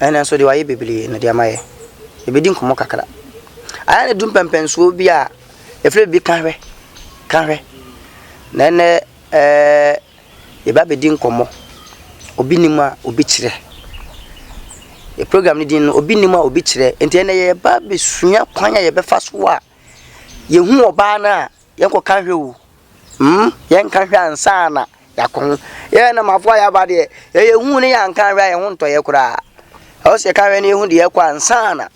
Ɛnnɛ nso deɛ wayɛ bebree no deɛ ama yɛ. Yɛbɛdi nkɔmmɔ kakra. Ayɛ ne du mpɛmpɛnsoɔ bi a ɛfiri bi ka hwɛ ka hwɛ. Na ɛnnɛ ɛɛ yɛba bɛdi nkɔmmɔ. Obi nim a obi kyerɛ. Yɛ program no din no obi nim a obi kyerɛ. Nti ɛnnɛ yɛba bɛsua kwan a yɛbɛfa so a yɛhu ɔbaa no a. Yɛn kɔ ka hwɛ o. Mm yɛn ka hwɛ ansa na yɛakɔ ho. Yɛn nam afo a yɛaba deɛ, yɛ yɛn hu ne yɛn anka hwɛ a yɛn ho ntɔ yɛ koraa. Ɛwɔ sɛ yɛka hwɛ ne yɛn hu deɛ yɛkɔ ansa na.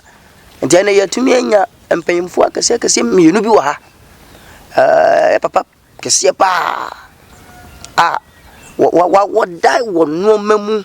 Nti ɛnna yɛatumi anya mpanyinfoɔ akɛseɛ akɛseɛ mmienu bi wɔ ha. Ɛɛ yɛ papa kɛseɛ paa a wɔ wɔ wɔda wɔ nneɛma mu.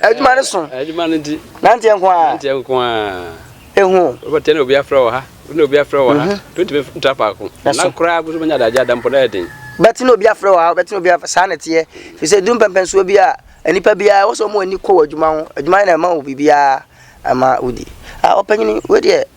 Adwuma no so. Adwuma no nti. Nanteɛ nko ara. Nanteɛ nko ara. Ehu. Wobɛteɛ na obi afrɛ wɔ ha, na obi afrɛ wɔ ha. Mhm. To ntumi ntra paako. Na koraa boso bɛnya adagye ada mpo na ɛyɛ den. Bɛte na obi afrɛ wɔ ha, bɛte na obi afrɛ saa na ɛteɛ. Fi sɛ du mpɛmpɛnsoɔ bi a, nnipa biara wɔ sɛ wɔn ani kɔ wɔ adwuma ho. Adwuma na ɛma wo biribiara ama wodi. Ah ɔpanyini wei deɛ.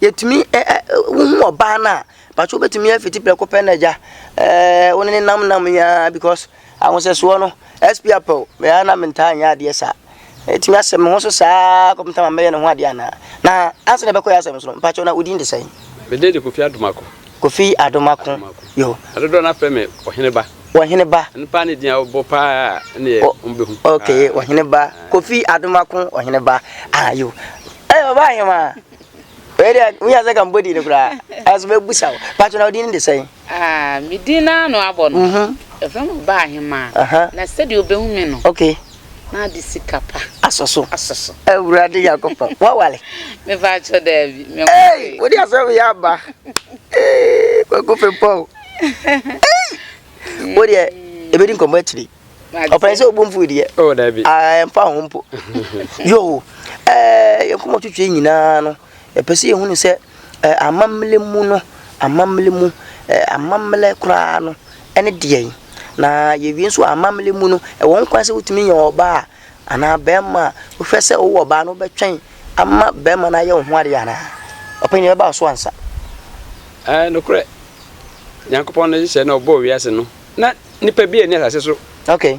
Yɛtumi ɛ ɛ wohu ɔbaa no a, mpakyɛ wobɛtumi afiti prɛko pɛ na agya ɛɛ wo ne ne nam nam yi ara because ahosɛsoɔ no SP Apɛw me ara na mentaa nyɛ adeɛ saa ɛtumi asɛ me ho so saa kɔpem sɛ ma mɛyɛ ne ho adeɛ anaa na ansa na ɛbɛkɔ yɛ asɛm so no mpakyɛ na wo din de sɛn? Me din de Kofi Adomako. Kofi Adomako yo. Adodoɔ no afrɛ me Ɔhene Ba. Ɔhene Ba. Ɛno paa ne din a wobɔ paa ne yɛ mbɛhu. Okay Ɔhene Ba Kofi Adomako Ɔhene Ba ah yo. Ɛyɛ ɔbaa hemaa. Wei deɛ wonya sɛ ka mbɔ din no koraa ɛso bɛbusa wo patro na wodin no de sɛn ah, me din no ano abɔ no mhm. ɛfrɛ no ɔbaa hemaa uh -huh. na sɛdeɛ wobɛhu me no okay. na ade sika pa asɔ so asɔ so awurade nyankopɔn woawale mefa akyɛ daabi hey, wode asɛm yɛ aba kwaku fempɔw wodeɛ ɛbɛdi nkɔmmɔ akyiri ɔpɛn sɛ ɔbɔ mfui deɛ oh, ɛmfa ho mpo yo eh, yɛnkɔmɔ twitwi nyinaa no yɛpɛ sɛ yɛhunu sɛ eh, amammerɛ mu no amammerɛ mu eh, amammerɛ koraa no ɛne deɛn na yɛwie nso amammerɛ mu no ɛwɔ nkwan sɛ wotumi yɛ ɔbaa anaa bɛrima a wohwɛ sɛ wowɔ ɔbaa no wobɛtwɛn ama bɛrima no ayɛ wo ho adeɛ anaa ɔpɛn yɛbɛba so ansa nokorɛ nyankopɔn no hyehyɛ na ɔbɔɔ wiase no na nipa bi a ɛne asase so. okay.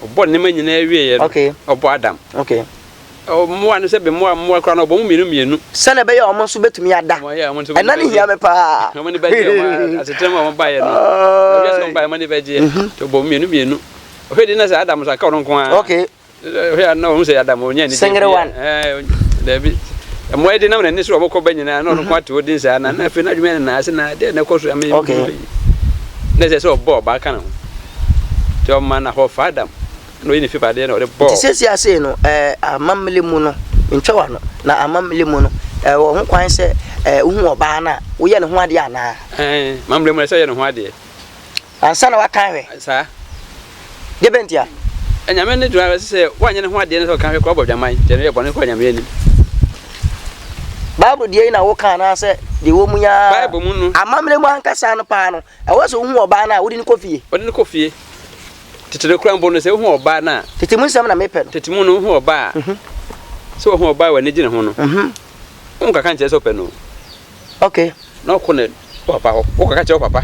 ɔbɔ nneɛma nyinaa wieɛ no okay. ɔbɔ adam okay. mmoa no sɛ bɛmmoa mmoa koraa no ɔbɔ mu mmienu mmienu sɛdeɛ ɛbɛyɛ ɔmo nso bɛtumi ada ɛna ne hia me paa ɔmo ne bɛgye ɔmo asetena mu a ɔmo baeɛ no ɛbɛyɛ sɛ ɔmo baeɛ ɔmo ne bɛgyeɛ nti ɔbɔ mu mmienu mmienu ɔhwɛ di na sɛ adam nso aka ɔno nko ara okay. Sengerewan. Okay. Nti seesei a sei no, eh, amammerɛ mu no, mentwa w'ano, na amammerɛ mu no, eh, wɔ ho kwan sɛ, eh, wohu ɔbaa no a, woyɛ ne ho adeɛ anaa? Eh, amammerɛ mu na sɛ yɛ ne ho adeɛ. Ansa na waka ahwɛ. Saa. Deɛ bɛn ntia? Anyame no gyina sɛ sɛ woanyɛ ne ho adeɛ no sɛ ɔka ahwɛ kora ɔbɔ dwaman nti ɛno yɛ bɔne kɔ anyame anim. Bible deɛ yi na woka anaasɛ deɛ wɔ mu yaa? Bible mu no. Amammerɛ mu ankasa no paa no, ɛwɔ sɛ wohu ɔbaa no a wode no kɔ fie. Wode no kɔ fie. Tete no kora mpo no sɛ wohu ɔbaa no a. Tete mu nsɛm na mepɛ no. Tete mu no wohu ɔbaa a. Mhm. Sɛ wohu ɔbaa a w'ani gye ne ho no. Mhm. Wonkaka nkyerɛ sɛ wopɛ no. Ok. Na ɔkɔ ne papa hɔ, ɔkɔ ka kyerɛ wo papa.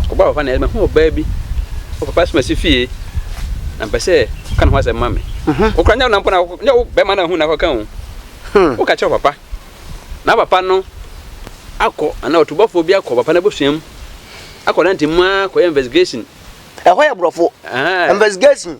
Ɔkɔ ba papa na ɛma hu ɔbaa bi. Wo papa soma si fie. Na mpɛ sɛ ɔka ne ho asɛm ma me. Wo kora nyɛ wo nampo na nyɛ wo bɛma na hu na ɔka o. Wo ka kyerɛ papa. Na papa no akɔ ana ɔtubɔfoɔ bi akɔ papa no abusua mu. Akɔ nante mu a kɔ yɛ investigation. Ɛhɔ yɛ borɔfo. Investigation.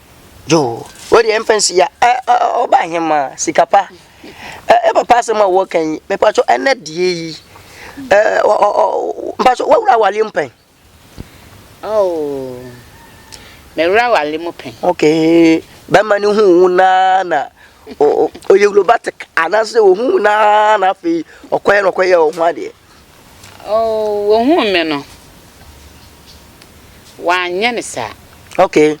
Yoo wo deɛ mfa nsi ya ɛ ɛ ɔba ahemaa sika pa ɛ ɛ papa asɛm a wɔka yi mepatwɔ ɛnɛ deɛ yi ɛ ɔ ɔ mpatwɔ wawura awareɛ mu pɛn. Oh mɛwura awareɛ mu pɛn. Okay bɛrima no hu wo naa na ɔyɛ robotic anaasɛ ɔhu wo naa na afei ɔkɔyɛ na ɔkɔyɛ ɔho adeɛ. Oh, wɔhuu me no, wɔanyɛ no saa. Okay.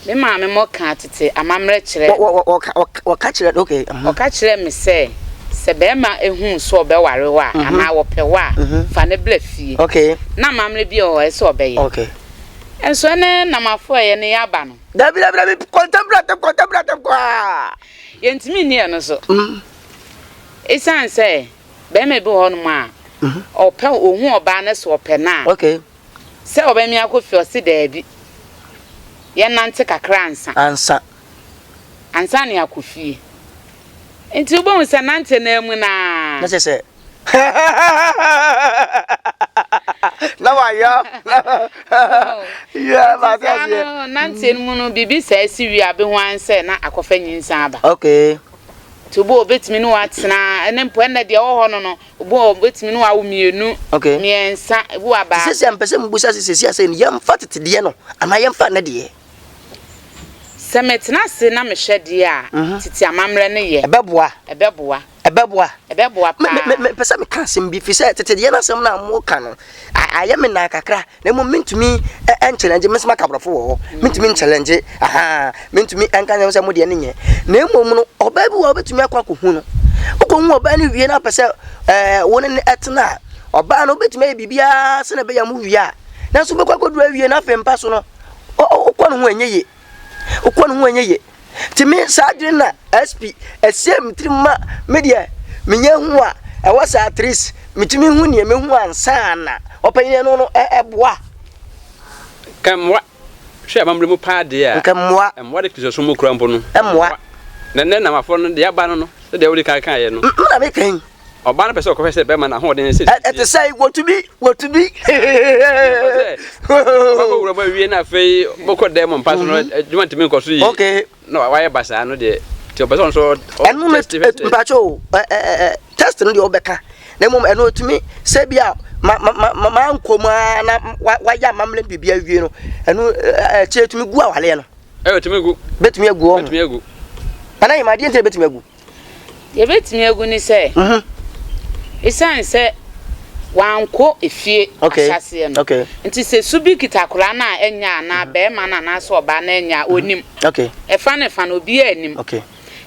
Me maame mɔ kaa tete amammerɛ kyerɛ. Wɔ wɔ wɔ ɔka ɔka ɔka kyerɛ okay. Uh-huh. Ɔka kyerɛ me sɛ sɛ bɛrima ehu sɛ ɔbɛware wa uh-huh. anaa wɔpɛ wa uh-huh. Mm-hmm. fa ne bla fie. Okay. Na amammerɛ bi wɔ hɔ ɛsɛ ɔbɛyɛ. Okay. Nso ɛne nam afɔ ɛyɛ ne yaba no. Dabi dabi dabi kɔntɛmbrɛ tɛm kɔntɛmbrɛ tɛm kɔaa. Yɛntumi nni ɛno so. Mm. Esiane sɛ barima bi wɔ hɔnom a ɔpɛ, ohu ɔbaa no sɛ ɔpɛ no a, sɛ ɔbɛma me akɔ fie a, ɔse daabi, yɛnnante kakra ansa. Ansa. Ansa na yɛakɔ fie. Nti wobɛhu sɛ nante no ara mu no ara. Na kyerɛ sɛ, na wayɔ yɛ ba ti ase. no nante mu no biribi saa si wie a bɛhu an sɛ na akɔfa nyinsa aba okay nti obi a obɛtumi ne watena ɛne mpo ɛnna deɛ ɛwɔ hɔ no no obi a obɛtumi ne wawo mmienu okay mmiɛnsa ebi wa baako sisi mpɛ sɛ mbusa sɛ sisi asɛ no yɛmfa tete deɛ no anaa yɛmfa ne deɛ sɛ metena ase na mehwɛ deɛ a mhm. tete amammerɛ no yɛ ɛbɛboa ɛbɛboa Ɛbɛboa? Ɛbɛboa paa. Me, me, me, mepɛ sɛ meka asɛm bi, firi sɛ tete deɛ no asɛm no a moka no, ayɛ me naa kakra, na mmom mentumi nkyɛlɛngye, me nso maka borɔfo wɔ hɔ, mentumi nkyɛlɛngye, aha, mentumi nka nyɛ sɛ mo deɛ no nyɛ, na mmom no, ɔbaa bi wɔ a wobɛtumi akɔ akɔhu no, wokɔhu ɔbaa no wie na apɛ sɛ ɛɛ wo ne no ɛtena a, ɔbaa no wobɛtumi ayɛ biribiara sɛ na ɛbɛyɛ mo wie a, nanso wobɛkɔ akɔduru awie na afei mpa so no, wokɔ no ho ɛnyɛ yie. Wokɔ no ho ɛnyɛ yie. Nti me saa adwene na SP ɛsiee me tirim ma me deɛ menya hu a ɛwɔ saa at least metumi hu deɛ mɛhu ansa na ɔpanyin no no ɛboa. Nka mmoa hwɛ amammerɛ mu paa deɛ a. Nka mmoa. Mmoa de Kristosom mu kura mpo no. Mmoa. Na nnɛ Namafoɔ no deɛ aba no no sɛdeɛ wode kan kaeɛ no. Me na meka yi. Ɔbaa no pɛ sɛ ɔkɔhwɛ sɛ bɛrima no ahoɔden ne sɛ sisi. Ɛte sɛn? Wotumi, wotumi. Ɔbɛkɔ wura mu awie na afei bɛkɔ dan mu mpa so no, adwuma ntumi nkɔ so yie. Okay. Na wayɛ basaa no deɛ, nti ɔpɛ sɛ ɔno nso ɔ Ɛno no, test fɛ. mpakyɛ o, ɛ ɛ ɛ test no deɛ wobɛka na mmom ɛno otumi sɛ bi a ma ma ma ma nkɔ mu ara na wa wayɛ amammerɛ ne biribi awie no, ɛno akyire etumi gu awaleɛ no. Ɛyɛ otumi gu. Betumi agu ɔho. Betumi agu. Ana yɛ ma adeɛ nti na betumi agu. Deɛ ɛbɛtumi agu ne sɛ, ɛsiane sɛ wankɔ efie ahyɛaseɛ no nti, sɛ su bi kita akwadaa no a ɛnyɛ anaa barima no anaasɛ ɔbaa no ɛnyɛ a, ɔnim. Ɛfa ne fa no, obiara nnim.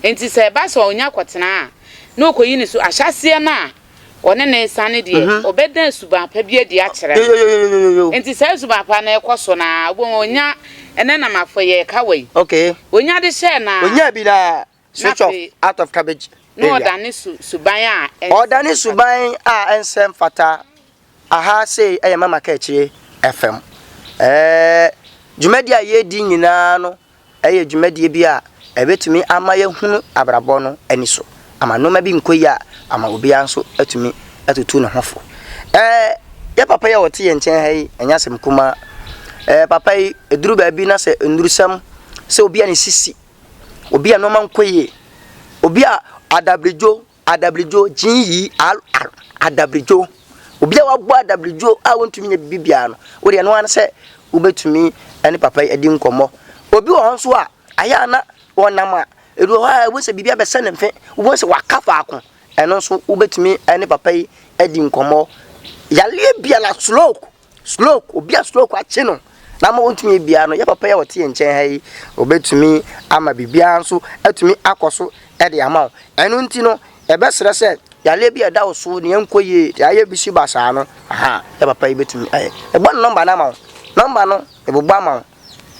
Nti sɛ ɛba sɛ ɔnya kɔtena a, na ɔkɔyi ne su. Ahyɛaseɛ no a ɔne no resane deɛ, ɔbɛda suban pa bi adi akyerɛ no. Nti saa suban pa no rekɔ so no ara, wobɛhu ɔnya, ɛnnɛ na mafɔyɛ ɛka wei. Ɔnya de hyɛɛ no ara. Switch off, out of cabbage area. Na ɔdane su suban a ɛnsɛ mfata. Ɔdane suban a ɛnsɛ mfata. Aha sei ɛyɛ mama kɛkyire ɛfam. Ɛɛ dwumadie a yɛredi nyinaa no ɛyɛ dwumadie bi a ɛbɛtumi ama yɛhunu abrabɔ no ani so. Ama nneɛma bi nkɔ yie a ama obiara nso atumi atutu ne ho fo. Ɛɛ yɛ papa yi a ɔte yɛn nkyɛn ha yi ɛnyɛ asɛm kumaa. Ɛɛ papa yi ɛduru baabi na sɛ nnurusɛm sɛ obi a ne sisi Obi a nnoɔma nkɔ yie. Obi a adabrigyo, adabrigyo, gyee yii, al, al, adabrigyo. Obi a wabɔ adabrigyo a wɔntumi nyɛ biribi biara no, wodeɛ ɛno ara ne sɛ wobɛtumi ne papa yi adi nkɔmmɔ. Obi wɔ hɔ nso a, ayɛ a na ɔnam a, ɛdu hɔ a ɛwɔ sɛ biribi abɛsɛ ne mfe, wobɛhu sɛ waka faako. Ɛno nso wobɛtumi ne papa yi adi nkɔmmɔ. Yareɛ biara, stroke, Stroke, Obi a stroke akye no na ama ɔntumi yɛ biara no, yɛ papa yi a ɔte yɛn nkyɛn ha yi, ɔbɛtumi ama biribiara nso atumi akɔ so de ama wo. Ɛno nti no, yɛbɛsrɛ sɛ yareɛ bi a ɛda wo so, nea ɛnkɔ yie, deɛ ayɛ bi si basaa no, aha, yɛ papa yi bɛtumi ayɛ. Mebɔ ne nɔmba no ama wo. Nɔmba no, mebobɔ ama wo.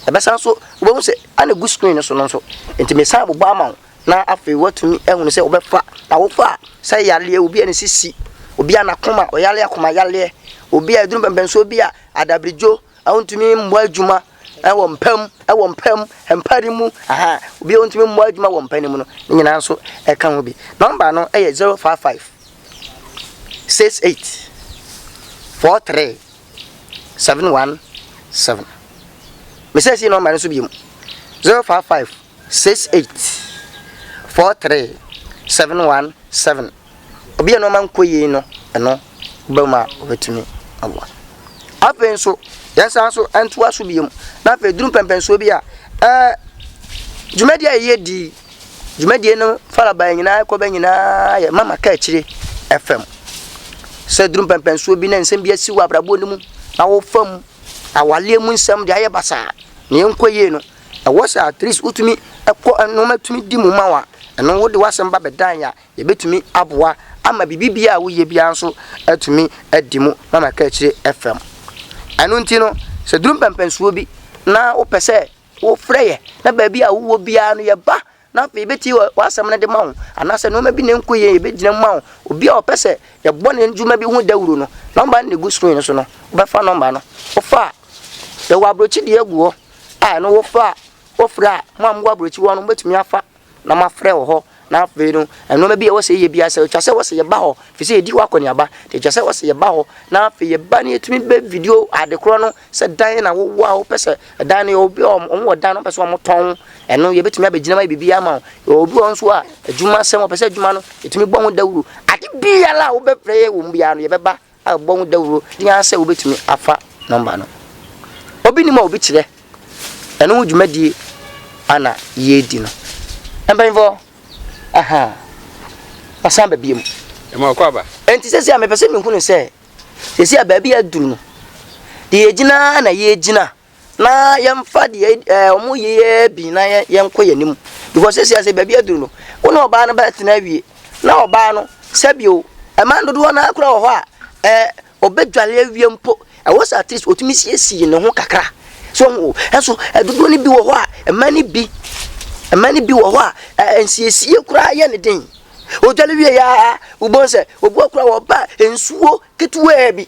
Ɛbɛsan nso wobɛhu sɛ ana egu screen no so no nso nti mesan abobɔ ama wo na afei woatumi ahunu sɛ wobɛfa na wofa a sɛ yareɛ obi a ne sisi obi a n'akoma ɔyare akoma yareɛ obi a aduru mpɛmpɛnsoɔ bi a adabirigyo a wontumi mmɔ adwuma ɛwɔ mpa mu ɛwɔ mpa mu mpa de mu aha obi a wontumi mmɔ adwuma wɔ mpa ne mu no ne nyinaa nso ɛka ho bi nɔmba no ɛyɛ 055 68 43 seven one seven mesɛ si nɔmba no so biom zero five five six eight four three seven one seven obi a nɔɔma nkɔ yie no ɛno wobɛ mu a wobɛtumi aboa afei nso yɛnsan so ntoa so biom na afei duru mpɛmpɛnsoɔ bi a ɛɛ dwumadi a yɛyɛ di dwumadie no farabaeɛ nyinaa kɔbɛ nyinaa yɛ mama ka akyire fam sɛ duru mpɛmpɛnsoɔ bi na nsɛm bi asi wɔ abrabɔ no mu na wofa mu awaleɛ mu nsɛm de ayɛ basaa na ɛnkɔ yie no ɛwɔ sɛ at least wotumi ɛkɔ nneɛma tumi di mu ma wa ɛno wode w'asɛm ba bɛdan yɛ a yɛbɛtumi aboa ama biribi biara a woyɛ biara nso atumi adi mu mama ka akyire fam ɛno nti no sɛ duru mpɛmpɛnsoɔ bi na wopɛ sɛ Wofrɛ yɛn, na baabi a wowɔ biara no, yɛba, na afei yɛbɛtie w'asɛm no de ma wo. Anaasɛ nneɛma bi na ɛnkɔ yie, yɛbɛgyina mu ma wo. Obi a ɔpɛ sɛ yɛbɔ ne dwuma bi ho dawuro no, nɔmba no na ɛgu screen no so no, wobɛfa nɔmba no. Wofa a, yɛwɔ aburokyi deɛ gu hɔ a, ɛno wofa a, wofrɛ a, mo a mowɔ aburokyi hɔ no, mobɛtumi afa na mafrɛ wo hɔ, na afei no, nnoɔma bi a ɛwɔ sɛ yɛyɛ biara sɛ ɛtwa sɛ ɛwɔ sɛ yɛba hɔ, ɛfiri sɛ yɛdi hɔ akɔneaba, nti ɛtwa sɛ ɛwɔ sɛ yɛba hɔ, na afei yɛba na yɛtumi bɛ video adekorɔ no, sɛ dan na wowɔ a wopɛ sɛ ɛdan no yɛ obi a wɔn wɔ dan no wɔpɛ sɛ wɔn tɔn, ɛno yɛbɛtumi abɛgyina ma yɛ biribi ama wo, yɛwɔ obi wɔ nso a adwuma sɛm wɔpɛ sɛ adwuma no yɛtumi bɔ ho dawuro, ade biara a wobɛpɛ yɛ wɔ mu biara no yɛbɛba a bɔ ho dawuro ne ara sɛ wobɛtumi afa nɔmba no. Obi nim a obi kyerɛ ɛno ho dwumadie a na yɛredi no. Mpanyinfoɔ, ahaa, masan ba biom. Ɛma ɔkɔ aba. Enti sɛsi a mepɛ sɛ mehunu sɛ sɛsi a baabi a aduru no, deɛ yɛgyina ara na yɛregyina Na yɛmfa deɛ ɛɛ wɔn yeyɛ bi na yɛn yɛnkɔ yɛn anim because sisi ase baabi aduru no wo ne ɔbaa no bɛtena awie na ɔbaa no sɛbio mmaa dodoɔ no ara koraa wɔ hɔ a ɛɛ ɔbɛdwale awie mpo ɛwɔ sɛ at least ɔtumi siesie ne ho kakra so ho ɛso dodoɔ no bi wɔ hɔ a mmaa no bi mmaa no bi wɔ hɔ a ɛɛ nsiesie koraa yɛ ne den ɔdwale wie yɛ a wobɛhu sɛ obi wɔ koraa wɔba nsuo ketewaa bi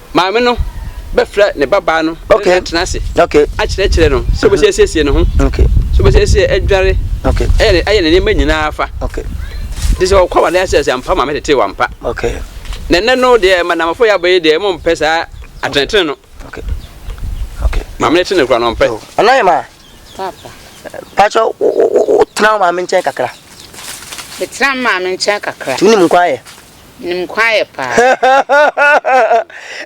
Maame no bɛfrɛ ne babaa no ne no atena ase akyerɛkyerɛ no sɛ obɛsi asiesie ne ho, sɛ obɛsi asiesie adware, ayɛ ne nneɛma nyinaa fa. Nti sɛ ɔkɔ awadeɛ ase sɛ ampa maame tetee wampa. Na ɛnɛ no deɛ madamfo yɛ abɔ yi deɛ mo mpɛ saa atenetene no. Maame no tene kora no ɔmpɛ. Ɛna yɛ maa. Papa. Pakyɛ wotena maame nkyɛn kakra. Metena maame nkyɛn kakra. Tunim nkwa yɛ. Nim kwan yɛ paa.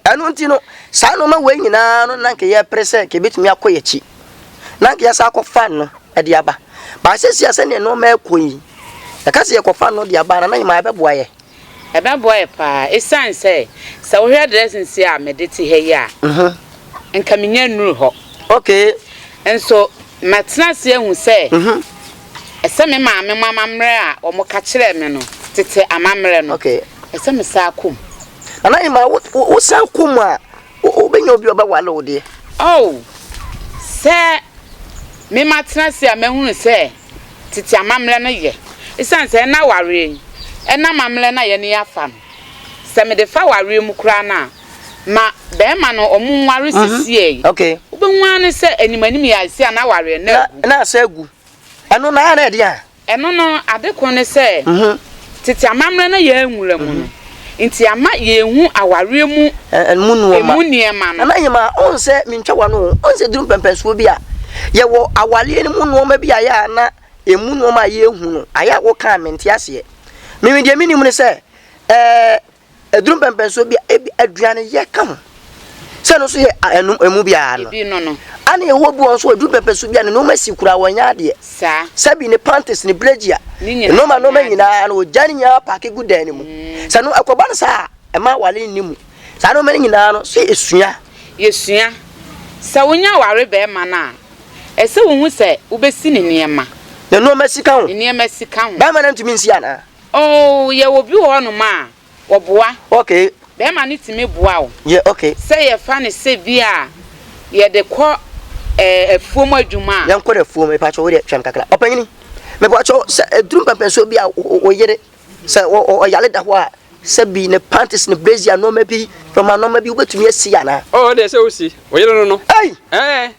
Ɛno nti no, saa nnoɔma wei nyinaa no na nka yɛpere sɛ nka ɛbɛtumi akɔ yɛn akyi. Na nka yɛsan akɔ fan no de aba. Baa sɛsi a sɛdeɛ nnoɔma ɛkɔ yi, yɛka sɛ yɛkɔ fan no de aba na yɛma ɛbɛboa yɛ. Ɛbɛboa yɛ paa. Ɛsiane sɛ, sɛ wohwɛ dressing sei a mede te ha yi a, nka menya nnuru hɔ. Okay. Nso Matena ase ahu sɛ ɛsɛ me maame mu amammerɛ a wɔka kyerɛɛ me no, tete amammerɛ no, ɛsɛ mesan kɔ mu. Nana Nyman, Wo, wo san kɔ mu a, wo bɛnya obi a ɔbɛware wo deɛ? Oh, sɛ me matena ase a mahunu sɛ tete amammerɛ no yɛ. Esiane sɛ ɛnna awareɛ yi, ɛnna amammerɛ no a yɛne yɛ afa no, sɛ mede fa awareɛ mu koraa no a, ma bɛɛma no ɔmo nware sisiɛ yi. Okay. Wobɛhu ara ne sɛ anim anim yi ayɛ sɛ a n'awareɛ no agu. Na asɔ agu. Ɛno no ara na ɛdeɛn a? Ɛno no, ade koro ne sɛ, tete amammerɛ na yɛn nwura mu no nti ama yɛnhu awareɛ mu Ɛmu nnoɔma. ɛmu nneɛma no. Nana Nyema, wohu sɛ mentwa w'ano o, wohu sɛ duru mpɛnpɛnsoɔ bi a, yɛwɔ awareɛ no mu nnoɔma bi a ɛyɛ a na ɛmu nnoɔma a yɛnhu no, ayɛ a woka a mente aseɛ. Me me deɛ menim ne sɛ, ɛɛ. Aduru mpɛnpɛnsoɔ bi a ebi aduaneyɛ ka ho sɛ ɛno nso yɛ ɛno ɛmu biara no. Ebi no no. Ana Yehowa bi wɔn nso aduru mpɛnpɛnsoɔ bi a ne nneɛma si koraa wɔnyɛ adeɛ. Saa. Sɛbi ne panties ne blegia. Ne nyinaa. Nneɛma nneɛma nyinaa no wɔgya ne nyinaa paaki gu dan no mu. Mm. Sɛ no ɛkɔba no saa a ɛma awale nni mu. Saa nneɛma no nyinaa no so esua. Yɛsua. Sɛ wonya aware bɛrima no a ɛsɛ wohu sɛ wobɛsi ne nneɛma. Ne nneɛma si ka ho. Ne nneɛma si ka ho. Bɛrima no ntumi nsi anaa? Oh yɛwɔ obi wɔ hɔ nom a ɔboa ok bɛɛma no tumi boa wo yeah ok sɛ yɛfa no sɛ bi a yɛde kɔ eh afuom adwuma a. Yɛnkɔ no afuom mepakyɛw wo deɛ twɛm kakra ɔpanyini mepakyɛw sɛ aduru mpɛmpɛnsoɔ bi a wo yere sɛ ɔyare da hɔ a sɛ bi ne panties ne brazier nnoɔma bi nnoɔma nnoɔma bi wobɛtumi asi anaa. Oh ɔdeɛ sɛ wosi wo yere no no ei eh.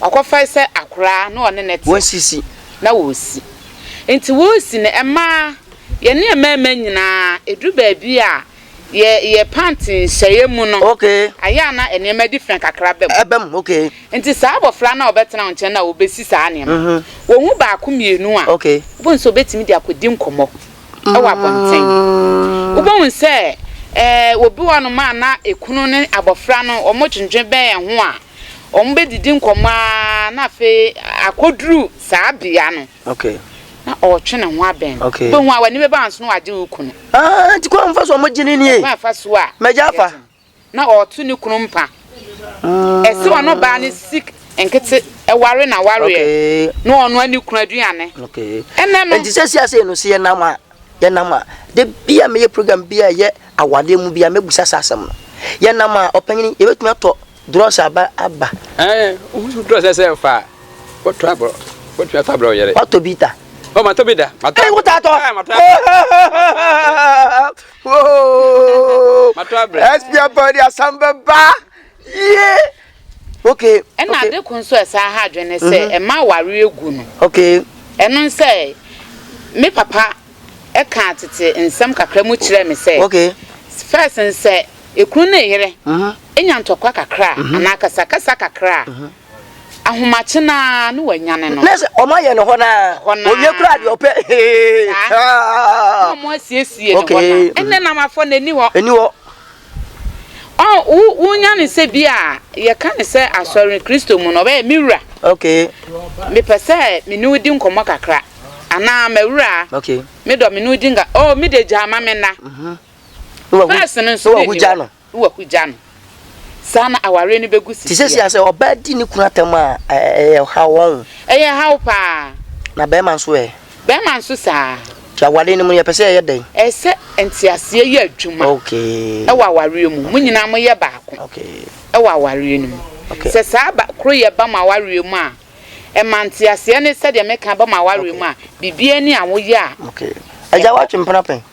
Ɔkɔfae sɛ akoraa na ɔne no te na wɔresi. Nti wɔresi no, ɛmaa yɛne mmarima nyinaa, ɛduru baabi a yɛ yɛ pant nhyɛeɛ mu no, ayɛ a na nneɛma adi fã kakra ba mu. Ɛba mu, okay. Nti saa abɔfra no a ɔbɛtena wo nkyɛn no a wɔbɛsi saa nneɛma no, wɔhu baako mmienu a, wobɛhu sɛ ɔbɛtumi de akɔdi nkɔmmɔ wɔ abɔnten. Wobɛhu sɛ ɛɛ obi wɔ hɔnom a na ekunu ne abɔfra no wɔdwendwen bɛn ho a, Wɔbɛdidi nkɔmmɔ ara na afei akɔduru saa bea no, na ɔretwe ne ho abɛn no. Wobɛhu a w'ani bɛba nso na wagye wo kunu. Ah, nti kwan fa so a wɔgye no nie. Kwan fa so a. Mɛgya afa. Na ɔreto ne kunu mpa. Mm. Ɛsɛ ɔno baa ne sik nkete ɛware na wareɛ na ɔno ani kunu aduane. Ɛnɛ no. Nti sɛ si ase no sɛ yɛnam a yɛnam a de bi a meyɛ program bi a ɛyɛ awadeɛ mu bi a mɛbusa saa asɛm no. Yɛnam a ɔpanyin yɛbɛtumi atɔ Drɔs aba aba. Ɛɛ wosu drɔs ɛ sɛ fa wɔtɔ abrɔ wɔtɔ atɔ abrɔ yɛrɛ. Watɔ bi da. Ɔ ma tɔ bi da. Ma tɔ. Ɛɛ wota atɔ. Ɛɛ ma tɔ abrɛ. Woo. Ma tɔ abrɛ. Ɛspi abɔ de asam bɛ ba. Yie. Ok. Ɛna ade ko nso ɛsan ha adwene sɛ ɛma aware egu no. Ok. Ɛno nsɛ me papa kaa tete nsɛm kakra mu kyerɛɛ me sɛ, First no, sɛ ekunu ne yere nya ntɔkwa kakra a, anaa akasakasa kakra a, ahomakye no ara na wɔanyane no. Na sɛ wɔayɛ no hɔ no ara, wɔwie koraa deɛ ɔpɛ hee. Saa. Na wɔasiesie no hɔ no ara. Ɛnnɛ na wafɔ n'ani hɔ. Ani hɔ. Oh, wo, wonya no sɛ bi a yɛka no sɛ asɔre, Kristo mu no, ɔbɛyɛ me wura. Okay. Mepɛ sɛ me ne wo di nkɔmmɔ kakra. Anaa, m'awura. Okay. Me dɔ, me ne wo di nka. Oh, me de gya ma me nna. Mhm. Mm Fɛs no nso, wɔ gya no. Wɔ gya no. Saa na aware no bɛgu si. Te sɛ si asɛ ɔbaa di ne kunu atam a ɛyɛ haw wɔn. Ɛyɛ haw paa. Na bɛrima nso ɛ. Bɛrima nso saa ara. Nti aware no mu no, yɛpɛ sɛ yɛyɛ dɛn? Ɛsɛ nteaseɛ yɛ adwuma wɔ awareɛ mu. Mo nyinaa moyɛ baako wɔ awareɛ no mu. Sɛ saa ba koroyɛ ba mo awareɛ mu a, ɛma nteaseɛ ne sɛdeɛ meka ba mo awareɛ mu a, biribiara ni a woyɛ a. Agya, woatwe mpena pɛn?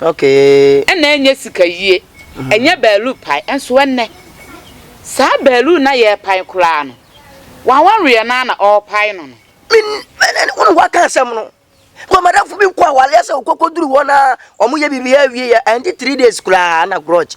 Okay. Ɛna ɛnyɛ sika yie, ɛnyɛ baaluu pae, ɛnso ɛnnɛ, saa baaluu no a yɛrepae koraa no, w'awareɛ no ara na ɔrepae no no. Min, ɛnɛ, wone w'aka asɛm no, kɔ madamfo bi kɔ awaleɛ sɛ wokɔkɔduru hɔ na wɔyɛ biribiara wie yɛ, ɛnte three days koraa na grudge.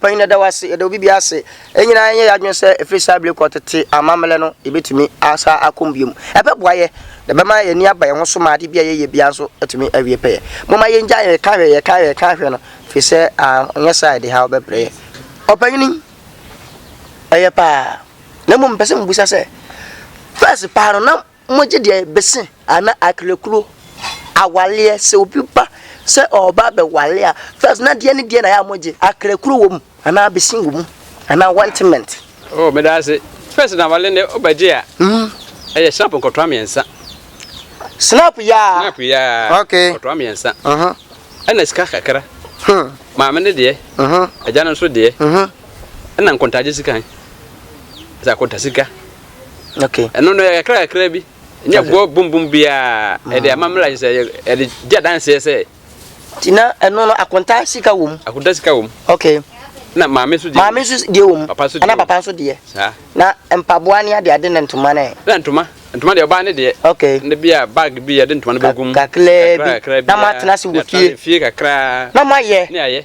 Panyin yɛda wo ase, yɛda obi biara ase. Yɛn nyinaa yɛnyɛ yɛn adwene sɛ ɛfiri saa bere kɔ tete amammerɛ no yɛbɛtumi asan akɔm biom. Ɛbɛboa yɛ, na ɛbɛma yɛn ani aba yɛn ho so ma ade bi a yɛyɛ biara nso atumi awie pɛyɛ. Momma yɛngyae yɛn ka hwɛ, yɛn ka hwɛ, yɛn ka hwɛ no, ɛfiri sɛ anyɛ saa a ɛde haw bɛbrɛ yɛn. Ɔpanyin, ɛyɛ paa. Na mmom mepɛ sɛ mebisa sɛ, first paa no na Mogye deɛ bese ana aklekuro awaleɛ sɛ obi ba sɛ ɔba abɛwale a first na deɛ ne deɛ na yɛ a mogye aklekuro wɔ mu anaa bese wɔ mu anaa wantement. Oh meda ase first na awale ne ɔba gye a ɛyɛ snap nkɔtoa mmiɛnsa snap yaa snap yaa okay nkɔtoa mmiɛnsa ɛna sika kakra maame ne deɛ agya no nso deɛ ɛna nkontagye sika sɛ akonta sika. Okay. Ɛno no ɛyɛ kakra kakra bi. Nyɛ bɔ bum bum biara. Ɛde mm. amammerɛ ayɛ sɛ ɛde gye adanseɛ sɛ. Ti na ɛno no akonta sika wɔ mu. Akonta sika wɔ mu. Okay. Na maame nso deɛ. Maame nso deɛ wɔ mu. Papa nso deɛ. Ana papa nso deɛ. Saa. Na mpaboa ne ade ade na ntoma na yɛ. Na ntoma ntoma deɛ ɔbaa ne deɛ. Okay. Ne bi a bag bi yɛde ntoma no bɛgu mu. Kakra bi. Kakra bi. Na mo atena se wɔ fie. Fie kakra. Na mo ayɛ. Ne ayɛ.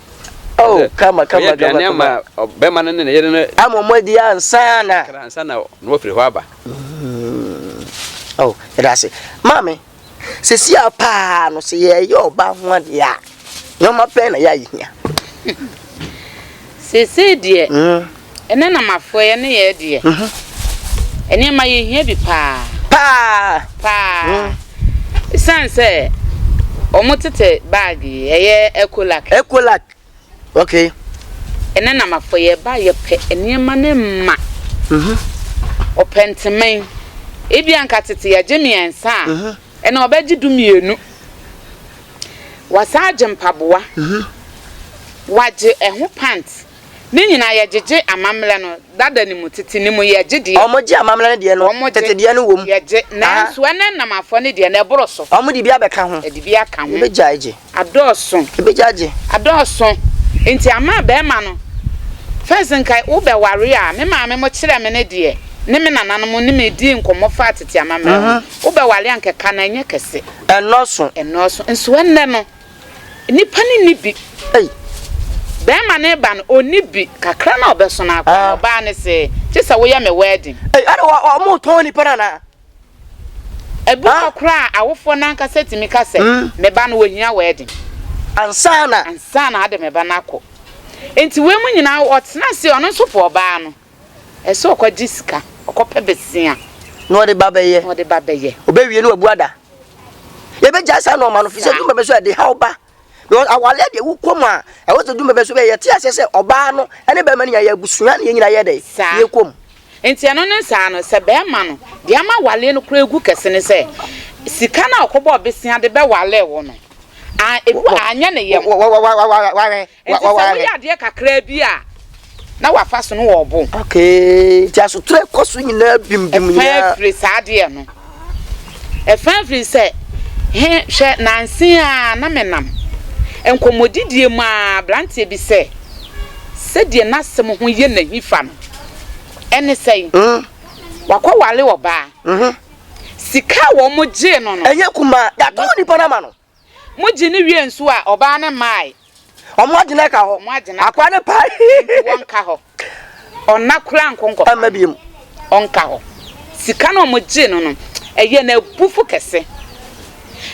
Oh, Ɛsɛ kama, kama, ɔyɛ kama, aduane ama kama. ɔ- bɛrima no ne ne yere no Ama mo adi ansa na. kra ansa na na wafiri hɔ aba Oh, yɛda ase. Maame, sɛsi a paa no, sɛ yɛyɛ ɔbaa ho adeɛ a, nneɛma bɛn na yɛayɛ hia? Seesei deɛ, Mm. Ɛnɛ na mafoɛ yɛne yɛɛ deɛ. Nneɛma yɛ hia bi paa. Paa. Paa. Ɛsiane sɛ wɔn tete bag yi ɛyɛ Ecolac. Ecolac ok. Ɛnɛ na mafoɛ yɛ ba yɛ pɛ nneɛma no ma. Ɔpɛ nteman ebi anka tete yɛ gye mmiɛnsa a ɛnɛ ɔbɛ gye du mmienu. Wasan agye mpaboa. Wagye ɛho pant. Ne nyinaa yɛ gyegye amammerɛ no dada no mu, tete no mu yɛ gye deɛ. Wɔn gye amammerɛ no deɛ no, tete deɛ no wɔ mu. Yɛ gye, nanso ɛna nnam afɔ no deɛ no ɛboro so. Wɔn de bi abɛka ho. Ɛde bi aka ho. Yɛbɛgya agye. Adɔɔso. Yɛbɛgya agye. Adɔɔso. Nti ama bɛɛma no, first nka wo bɛ ware a, me maame mo kyerɛ me ne deɛ, ne me nana no mo ne me dii nkɔmmɔ faa tete amammerɛ ho, wo bɛ ware a nka ɛka no ɛnyɛ kɛse. Ɛnnɔɔso. Ɛnnɔɔso. Nso ɛnnɛ no. Nnipa no nni bi. Ei! Bɛrima no reba no, ɔnni bi. Kakra no a ɔbɛso no ara koraa no, ɔbaa no se, Gye sɛ woyɛ me wɛɛden. Ei! Ɛnna wɔ, wɔ, wɔretɔn nnipa no anaa? Ebi hɔ koraa a, awofoɔ no ankasa tumi ka sɛ, Me ba no, ɔhia wɛɛden. Ansa na. Ansa na ade me ba no akɔ. Enti wei mu nyinaa, ɔtenaa ase, ɔno nso poo ɔbaa no. Ɛsɛ ɔkɔgye sika, ɔkɔpɛ bosea. Na ɔde ba bɛyɛ. Na ɔde ba bɛyɛ. Ɔbɛwie na wabu ada. Yɛbɛgyae saa nɔɔma no, fisɛ dumɛmɛ so ɛde haw ba. Because awaleɛ deɛ wokɔ mu a, ɛwɔ sɛ dumɛmɛ so bɛyɛ. Yɛte aseɛ sɛ ɔbaa no ɛne bɛrima no nyinaa yɛ abusua na yɛn nyinaa yɛ dɛn? Saa. Yɛkɔ mu. Nti ɛno no saa no, sɛ bɛrima no, deɛ ama awaleɛ no koraa gu kɛse ne sɛ, sika no a ɔkɔbɔɔ bosea de bɛwale wo no, a, ebi wɔ a anyɛ ne yam. Wa, wa, wa, wa, wa, wahwɛ. Enti sɛ woyɛ adeɛ kakraa bi a, na w'afa so no wɔ ɔbo. Okay, nti asotorɔ a ɛkɔ so nyinaa bim bim nyinaa. Ɛfan firi saa adeɛ no. Ɛfan firi sɛ, he, hwɛ, nanse ara na me nam nkɔmmɔdidie mu ara abranteɛ bi sɛ, sɛdeɛ n'asɛm ho yɛ no ahi fa no, ɛne sɛn? Wakɔ ware ɔbaa. Sika a wɔn gyee no no. Ɛnyɛ kumaa. Yɛatɔn nipa no ama no. Mogye no wie nso a, ɔbaa no mmae. Ɔmo agye no ɛka hɔ. Ɔmo agye no aka. Akwa ne pa. Nti wɔnka hɔ. Ɔnna koraa nko nkɔfa. Ɛmma biom. Ɔnka hɔ. Sika no a ɔmo gyee no no, ɛyɛɛ no abufo kɛse.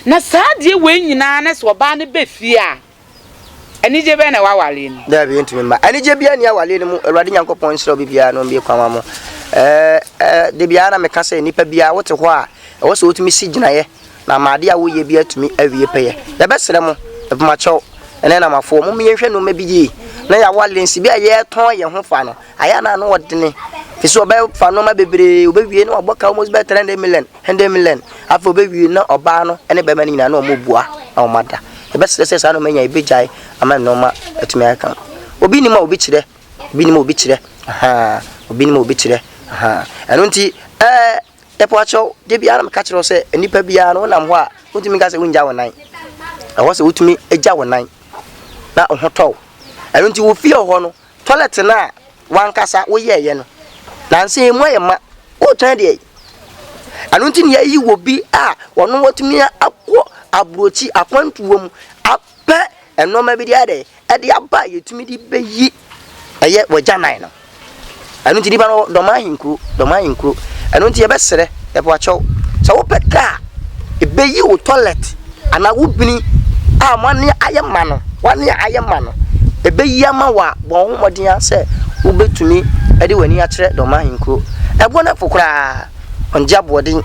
Na saa adeɛ wei nyinaa na sɛ ɔbaa no ba fie a. Anigye bɛn na ɛwɔ awareɛ no mu? Daabi, ɛntumi mma. Anigye biara nni awareɛ no mu. Awurade Nyankopɔn nhyira obi biara na ɔmmue kwan ma mo. Ɛɛ, ɛɛ, da biara na meka sɛ nnipa biara wote hɔ a, ɛwɔ sɛ wotumi si gyinaeɛ na ama adeɛ a woyɛ bi atumi awie pɛyɛ. Yɛbɛsrɛ mo, mpomakyɛw, ɛnɛ namafoɔ, momma yɛnhwɛ nneɛma bi yie na yɛawale nsi bi a yɛretɔn yɛn ho fa no. Ayɛ a na ano ɔdene, ɛfiri sɛ wɔbɛfa nneɛma bebree, wɔbɛwie na wɔabɔ ka almost bɛyɛ 300 million. Hende Milen. Afei obewie na ɔbaa no ne bɛrima no nyinaa na wɔn bua na wɔn ada. Ɛbɛsrɛ sɛ saa nneɛma nyinaa ebegyae ama nneɛma atumi aka. Obi nim a obi kyerɛ. Obi nim a obi kyerɛ. Ahaa. Obi nim a obi kyerɛ. Ahaa. Ɛno nti ɛɛ ɛpo akyɛw de biara meka kyerɛ sɛ nnipa biara no wonam hɔ a wotumi nka sɛ wongya wo nan. Ɛwɔ sɛ wotumi gya wo nan na wo ho tɔw. Ɛno nti wofie hɔ no Toilet no a wankasa woyɛeɛ no, nanso ɛmu ayɛ ma, woretɔn de ai. Ɛno nti na yɛayi wɔ bi a ɔno watumi akɔ aburokyi akwantuo mu apɛ nnoɔma bi de ayɛ dɛ, ɛde aba a yɛtumi de bɛyi ɛyɛ wɔ gyaman no. Ɛno nti nipa no wɔ dɔm ahenkuro, dɔm ahenkuro. Ɛno nti yɛbɛsrɛ, yɛpɛ wakyɛw, sɛ wopɛ kaa a ɛbɛyi wo toilet. anaa wo bini a moane ayɛ ma no, woane ayɛ ma no, ɛbɛyi ama wo a, bɔ wo ho mmɔden ara sɛ wobɛtumi de w'ani akyerɛ Dɔma Ahenkuro. Ɛboɔ no po koraa, ɔngye aboɔden.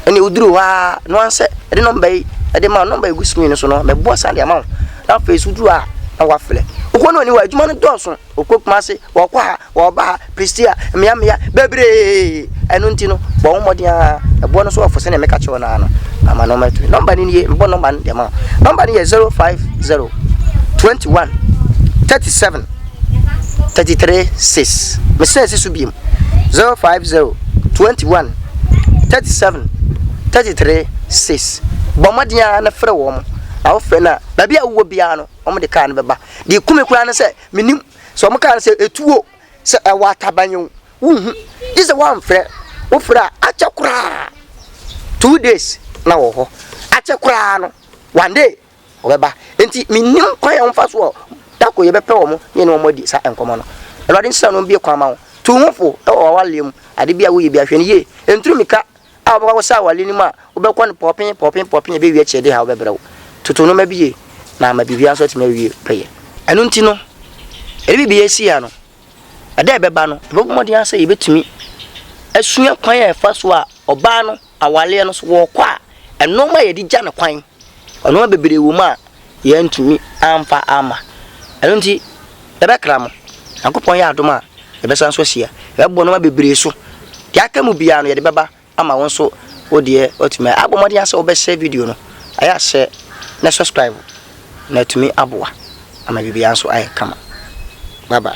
Ɛnna woduru hɔ ara no ara sɛ ɛde nɔmba yi ɛde ma wo, nɔmba yi gu screen no so no, mɛboa saa de ama wo. Na afei nso woduru hɔ a, na woafrɛ. Wokɔ no ɔni hɔ a, adwuma no dɔɔso. Ɔkɔ Kumase, ɔkɔ ha, Wɔba ha, Prestea, mmeammea bebree. Ɛno nti no, bɔ wo mmɔden ara, ɛboɔ no so ɔfo sɛdeɛ meka kyerɛ wo no ara no, ama nɔma atumi. Nɔmba no nie, mebɔ nɔmba no de ama wo. Nɔmba no yɛ 050 21 37 33 6. Mesrɛ si so biem. 050 21 37 33 6. Bɔ mmɔden ara na frɛ wɔn. Na wofrɛ no a, baabi a wowɔ biara no, wɔn de kaa no bɛba. Deɛ kumi koraa ne sɛ, menim Sɛ wɔn kaa no sɛ etuo, sɛ ɛwɔ ataban o, wonhu. Gye sɛ wɔamfrɛ. Wofrɛ a, akyɛ koraa two days na wɔ hɔ. Akyɛ koraa no, one day wɔbɛba. Enti mennim kwan a wɔmfa so a da ko yɛbɛpɛ wɔn na yɛne wɔn adi saa nkɔmmɔ no. Awurade nhyira no mbue kwan ma wo. Tu wo ho fo wɔ w'awareɛ mu. Ade bi a woyɛ biara, hwɛ no yie. Nturu mmirika a wobɛkɔ akɔsɛ awale no mu a wobɛkɔ no pɔpen pɔpen pɔpen na ɛbɛwie akyerɛ de ha wobɛbrɛ wo toto nnoɔma bi yie na ama biribiara nso atumi awie pɛyɛ ɛno nti no ɛde biribi asi ha no ɛdɛ ɛbɛba no ɛbɛbɔ mmɔden ara sɛ yɛbɛtumi asua kwan a ɛfa so a ɔbaa no awaleɛ no so wɔkɔ a ɛnoɔma a yɛde gya no kwan ɔnoɔma bebree wɔ mu a Yɛantumi amfa amma. Ɛno nti, yɛbɛkra mo. Nyankopɔn yɛ adom a, yɛbɛsan so ahyia. Yɛbɛboa nnoɔma bebree so. Deɛ aka mu biara no, yɛde bɛba ama wo nso wo deɛ woatumi ayɛ. Abɔ mmɔden ara sɛ wobɛhyɛ video no. Ayɛ a hyɛ na subscribe. Na atumi aboa ama biribiara nso ayɛ kama. Bye bye.